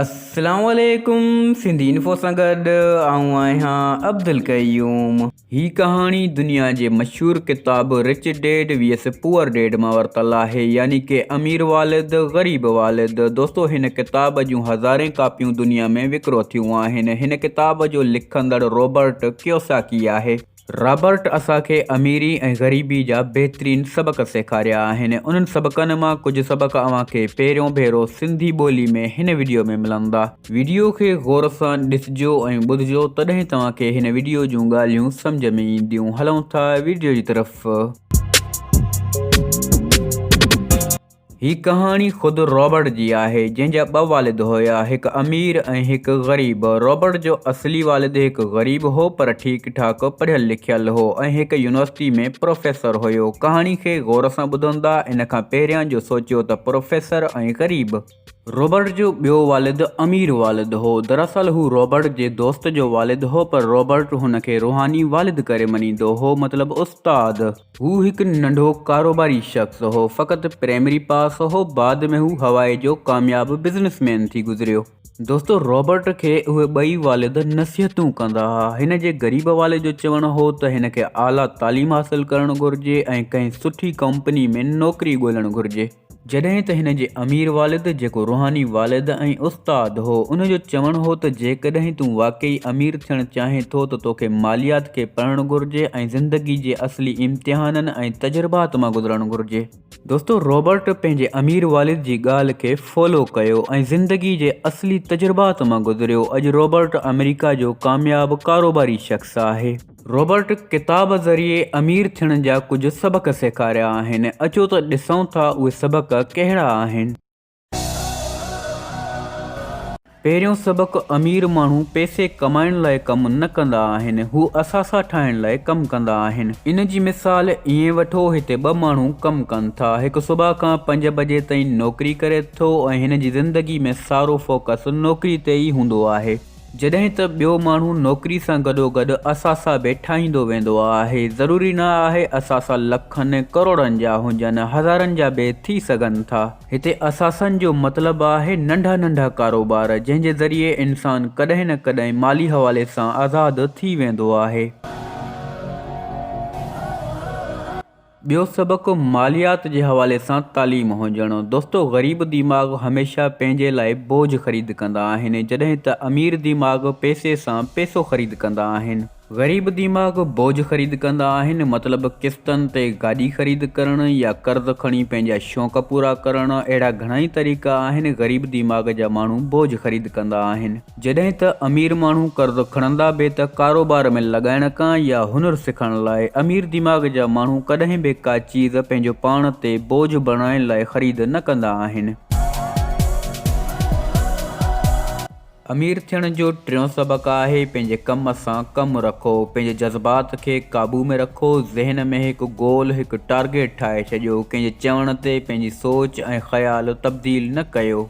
السلام عليڪم سنڌي انفو سان گڏ آئون آهيان عبدالقيوم. هي ڪهاڻي دنيا جي مشهور ڪتاب rich dad vs poor dad مان ورتل آهي يعني ڪي امير والد غريب والد دوستو هن ڪتاب جون هزارين ڪاپيون دنيا ۾ وڪرو ٿيون آهن هن ڪتاب جو لکندڙ روبرٽ ڪيوساڪي آهي رابرٽ اسان کي اميري ۽ غريبي جا بهترين سبق سيکاريا آهن. انهن سبقن مان ڪجهه سبق اوهان کي پهريون ڀيرو سنڌي ٻولي ۾ هن وڊيو ۾ ملندا. وڊيو کي غور سان ڏسجو ۽ ٻڌجو تڏهن توهان کي هن وڊيو جون ڳالهيون سمجهه ۾ اينديون. هلون ٿا وڊيو جي طرف. هي ڪهاڻي خود رابرٽ جي آهي، جنهن جا ٻه والد هيا، هڪ امير ۽ هڪ غريب. رابرٽ جو اصلي والد هڪ غريب هو، پر ٺيڪ ٺاڪ پڙهيل لکيل هو ۽ هڪ يونيورسٽي ۾ پروفيسر هيو. ڪهاڻي کي غور سان ٻڌندا، ان کان پهريان جو سوچيو ته پروفيسر ۽ غريب. رابرٽ جو ٻيو والد امير والد هو. دراصل هو رابرٽ جي دوست جو والد هو، پر رابرٽ هن کي روحاني والد ڪري مڃيندو هو، مطلب استاد. هو هڪ ننڍو ڪاروباري شخص هو، فقط پرائمري پاس هو، بعد ۾ هو هوائي جو ڪامياب بزنس مين ٿي گذريو. دوستو رابرٽ کي اهي ٻئي والد نصيحتون ڪندا ها. هن جي غريب والد جو چوڻ هو ته هن کي اعليٰ تعليم حاصل ڪرڻ گهرجي ۽ ڪنهن سٺي ڪمپني ۾ نوڪري ڳولڻ گهرجي. جڏهن ته هن جي امير والد جيڪو روحاني والد ۽ استاد هو، ان جو چوڻ هو ته جيڪڏهن تون واقعي امير ٿيڻ چاهين ٿو ته توکي ماليات کي پڙهڻ گهرجي ۽ زندگي جي اصلي امتحانن ۽ تجربات مان گذرڻ گهرجي. دوستو رابرٽ پنهنجي امير والد جي ڳالهه کي فالو ڪيو ۽ زندگي جي اصلي تجربات مان گذريو. اڄ رابرٽ آمريڪا جو ڪامياب ڪاروباري شخص آهي. رابرٽ ڪتاب ذريعي امير ٿيڻ جا ڪجهه سبق سيکاريا آهن اچو ته ڏسون ٿا اهي سبق ڪهڙا آهن. پهريون سبق امير ماڻهو پئسي ڪمائڻ لاء ڪم نه ڪندا آهن هو اثاثا ٺاهڻ لاء ڪم ڪندا آهن ان جي مثال ائين وٺو هتي ٻه ماڻهو ڪم ڪن ٿا هڪ صبح کان پنج بجي تائين نوڪري ڪري ٿو ۽ هن جي زندگي ۾ سارو فوڪس نوڪري تي ئي هوندو آهي جڏهن ته ٻيو ماڻهو نوڪري سان گڏوگڏ اثاثا به ٺاهيندو ويندو آهي. ضروري نه آهي اثاثا لکن ڪروڙن جا هجن، هزارن جا به ٿي سگهن ٿا. هتي اثاثن جو مطلب آهي ننڍا ننڍا ڪاروبار، جنهن جي ذريعي انسان ڪڏهن نه ڪڏهن مالي حوالي سان آزاد ٿي ويندو آهي. ٻيو سبق ماليات جي حوالي سان تعليم هجڻ. دوستو غريب ديماغ هميشه پنهنجي لاء بوجهه خريد ڪندا آهن جڏهن ته امير ديماغ پئسي سان پئسو خريد ڪندا آهن. غريب ديماغ بوجهه خريد ڪندا آهن مطلب قسطن تي گاڏي خريد ڪرڻ يا قرض کڻي پنهنجا شوق پورا ڪرڻ اهڙا گهڻائي طريقا آهن غريب ديماغ جا ماڻهو بوجهه خريد ڪندا آهن. جڏهن ته امير ماڻهو قرض کڻندا به ته ڪاروبار ۾ لڳائڻ ڪان يا هنر سکڻ لاء. امير دماغ جا ماڻهو ڪڏهن به ڪا چيز پنهنجو پاڻ تي بوجهه بڻائڻ لاء خريد نه ڪندا آهن. امير ٿيڻ جو ٽيون سبق آهي پنهنجي ڪم سان ڪم رکو، پنهنجي جذبات کي قابو ۾ رکو، ذهن ۾ هڪ گول، هڪ ٽارگيٽ ٺاهي ڇڏيو، ڪنهن جي چوڻ تي پنهنجي سوچ، ۽ خيال تبديل نه ڪيو.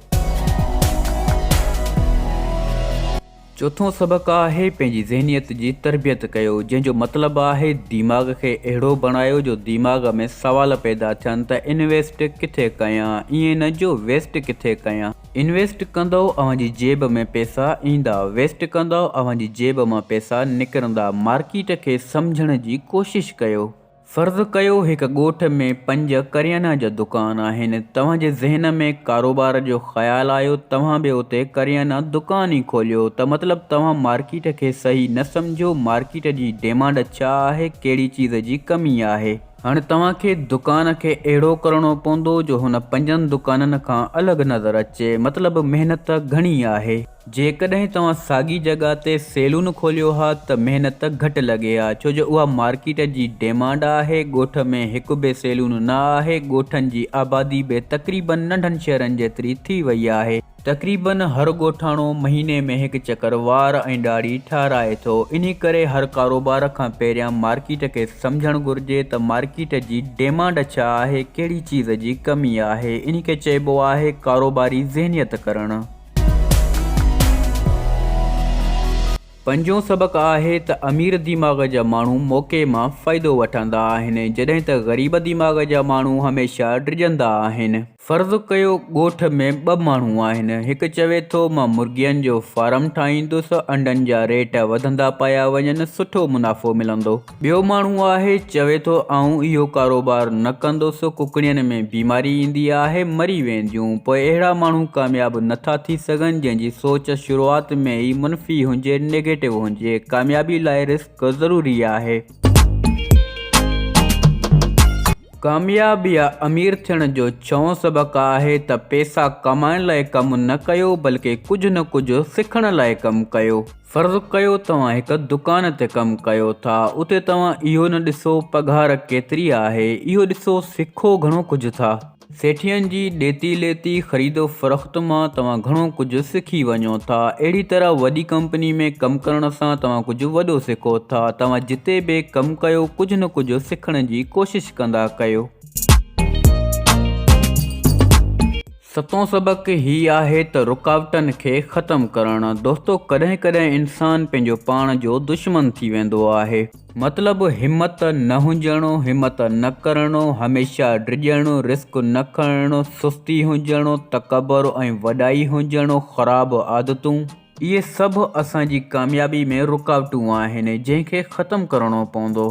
چوٿون سبق آهي پنهنجي ذهنيت جي تربيت ڪيو جنهن جو مطلب آهي ديماغ کي اهڙو بڻايو جو ديماغ ۾ سوال پيدا ٿين ته انويسٽ ڪٿي ڪيان ائين نه جو ويسٽ ڪٿي ڪيان. انويسٽ ڪندؤ اوهان جي جيب ۾ پيسا ايندا ويسٽ ڪندؤ اوهان جي جيب مان پيسا نڪرندا مارڪيٽ کي سمجهڻ جي ڪوشش ڪيو. فرض ڪيو هڪ ڳوٺ ۾ پنج ڪريانه جا دڪان آهن، توهان جي ذهن ۾ ڪاروبار جو خيال آيو توهان به اتي ڪريانه دڪان ئي کوليو ته مطلب توهان مارڪيٽ کي صحيح نه سمجهو، مارڪيٽ جي ڊيمانڊ ڇا آهي ڪهڙي چيز جي ڪمي آهي. هاڻي توهان کي دڪان کي اهڙو ڪرڻو پوندو جو هن پنجن دڪانن کان الڳ نظر اچي، مطلب محنت گهڻي آهي. جيڪڏهن توهان ساڳي جڳهه تي سيلون کوليو ها ته محنت گهٽ لڳي ها ڇو جو اها مارڪيٽ جي ڊيمانڊ آهي، ڳوٺ ۾ هڪ به سيلون نه آهي، ڳوٺن جي آبادي به تقريبن ننڍن شهرن جيتري ٿي وئي آهي، تقريبن هر ڳوٺاڻو مهيني ۾ هڪ چڪر وار ۽ ڏاڙهي ٺهرائي ٿو، انهي ڪري هر ڪاروبار کان پهريان مارڪيٽ کي سمجهڻ گهرجي ته مارڪيٽ جي ڊيمانڊ ڇا آهي، ڪهڙي چيز جي ڪمي آهي، انهي کي چئبو آهي ڪاروباري ذهنيت ڪرڻ. پنجون سبق آهي ته امير ديماغ جا ماڻهو موقعي مان فائدو وٺندا آهن جڏهن ته غريب ديماغ جا ماڻهو هميشه ڊڄندا آهن. فرض ڪيو ڳوٺ ۾ ٻه ماڻهو آهن هڪ چوي ٿو مان مرغين جو فارم ٺاهيندس انڊن جا ريٽ وڌندا پيا وڃن سٺو منافعو ملندو. ٻيو ماڻهو آهي چوي ٿو آئون اهو ڪاروبار نه ڪندس ڪڪڙين ۾ بيماري ايندي آهي مري وينديون پوء اهڙا ماڻهو ڪامياب نه ٿا ٿي سگهن جنهن جي سوچ شروعات ۾ ئي منفي هجي نيگيٽو هجي ڪاميابي لاء رسڪ ضروري آهي. ڪامياب يا امير ٿيڻ جو ڇهون سبق آهي ته پيسا ڪمائڻ لاء ڪم نه ڪيو بلڪه ڪجهه نه ڪجهه سکڻ لاء ڪم ڪيو. فرض ڪيو توهان هڪ دڪان تي ڪم ڪيو ٿا، اتي توهان اهو نه ڏسو پگهار ڪيتري آهي، اهو ڏسو سکو گهڻو ڪجهه ٿا. سيٺين جي ڏيتي ليتي، خريد و فروخت مان توهان گهڻو ڪجهه سکي وڃو ٿا. اهڙي طرح وڏي ڪمپني ۾ ڪم ڪرڻ سان توهان ڪجهه وڏو سکو ٿا. توهان جتي به ڪم ڪيو، ڪجهه نه ڪجهه سکڻ جي ڪوشش ڪندا ڪيو. ستون سبق هي آهي ته رڪاوٽن کي ختم ڪرڻ دوستو ڪڏهن ڪڏهن انسان پنهنجو پاڻ جو دشمن ٿي ويندو آهي مطلب همت نه هجڻو همت نه ڪرڻو هميشه ڊڄڻو رسڪ نه کڻڻو سستي هجڻو تڪبر ۽ وڏائي هجڻو خراب عادتون اهي سڀ اسان جي ڪاميابي ۾ رڪاوٽون آهن جنهن کي ختم ڪرڻو پوندو.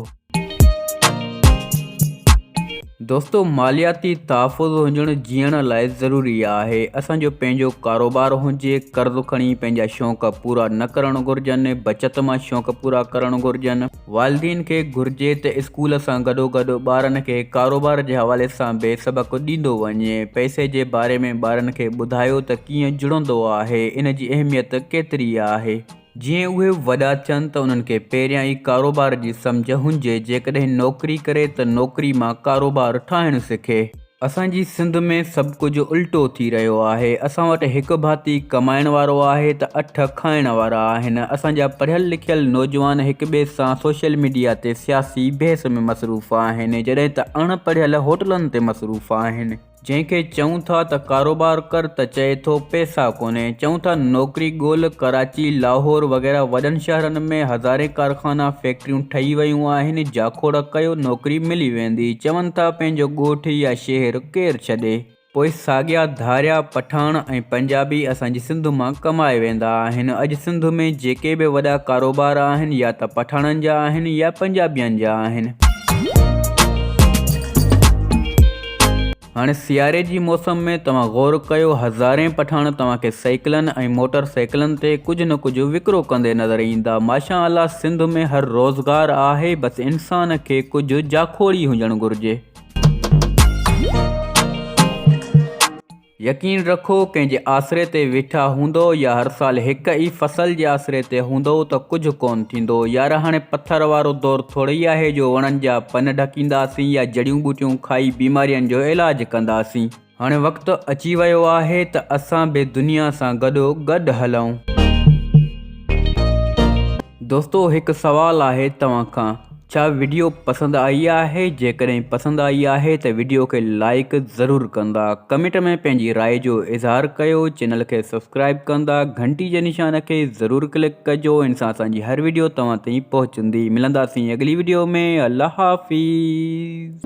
دوستو مالياتي تحفظ هجڻ جيئڻ لاء ضروري آهي. اسان جو پنهنجو ڪاروبار هجي، قرض کڻي پنهنجا شوق پورا نه ڪرڻ گهرجن، بچت مان شوق پورا ڪرڻ گهرجن. والدين کي گهرجي ته اسڪول سان گڏوگڏ ٻارن کي ڪاروبار جي حوالي سان به سبق ڏيندو وڃي. پئسي جي باري ۾ ٻارن کي ٻڌايو ته ڪيئن جڙندو آهي، ان جي اهميت ڪيتري آهي. جيئن اهي وڏا ٿين ته انهن کي پهريان ئي ڪاروبار جي سمجهه هنجي، جيڪڏهن نوڪري ڪري ته نوڪري مان ڪاروبار ٺاهڻ سکي. اسان جي سنڌ ۾ سڀ ڪجهه الٽو ٿي رهيو آهي اسان وٽ هڪ ڀاتي ڪمائڻ وارو آهي ته اٺ کائڻ وارا آهن اسان جا پڙهيل لکيل نوجوان هڪ ٻئي سان سوشل ميڊيا تي سياسي بحث ۾ مصروف آهن جڏهن ته اڻ پڙهيل هوٽلن تي مصروف آهن جنهن کي چئون ٿا ته ڪاروبار ڪر ته چئي ٿو پئسا ڪونهي چئون ٿا نوڪري ڳول ڪراچي لاهور وغيره وڏن شهرن ۾ هزارين ڪارخانا فيڪٽريون ٺهي ويون آهن جاکوڙ ڪيو نوڪري ملي ويندي. ويندي چون ٿا پنهنجو ڳوٺ يا شهر ڪير ڇڏي. پوء ساڳيا ڌاريا پٺاڻ ۽ پنجابي اسان جي سنڌ مان ڪمائي ويندا آهن. اڄ سنڌ ۾ جيڪي به وڏا ڪاروبار آهن يا ته پٺاڻن جا آهن يا پنجابين جا آهن. هاڻي سياري جي موسم ۾ توهان غور ڪيو هزارين پٺاڻ توهان کي سائيڪلن ۽ موٽر سائيڪلن تي ڪجهه نه ڪجهه وڪرو ڪندي نظر ايندا ماشاء الله سنڌ ۾ هر روزگار آهي بس انسان کي ڪجهه جاکوڙي هجڻ گهرجي. يقين رکو ڪنهن جي آسري تي ويٺا هوندؤ يا هر سال هڪ ئي فصل جي آسري تي هوندؤ ته ڪجهه ڪون ٿيندو يار هاڻي پٿر وارو دور ٿوري ئي آهي جو وڻن جا پن ڍڪينداسين يا جڙيون ٻوٽيون کائي بيمارين جو علاج ڪنداسين. هاڻي وقت اچي ويو آهي ته اسان به دنيا سان گڏو گڏ هلون. دوستو هڪ سوال آهي توهان کان ڇا وڊيو پسند آئي آهي جيڪڏهن پسند آئي آهي ته وڊيو کي لائيڪ ضرور ڪندا ڪمينٽ ۾ پنهنجي راء جو اظهار ڪيو چينل کي سبسڪرائيب ڪندا گهنٽي جي نشان کي ضرور ڪلڪ ڪجو ان سان اسان جي هر وڊيو توهان تائين پهچي سنڌي ملنداسين اڳلي وڊيو ۾ الله حافظ.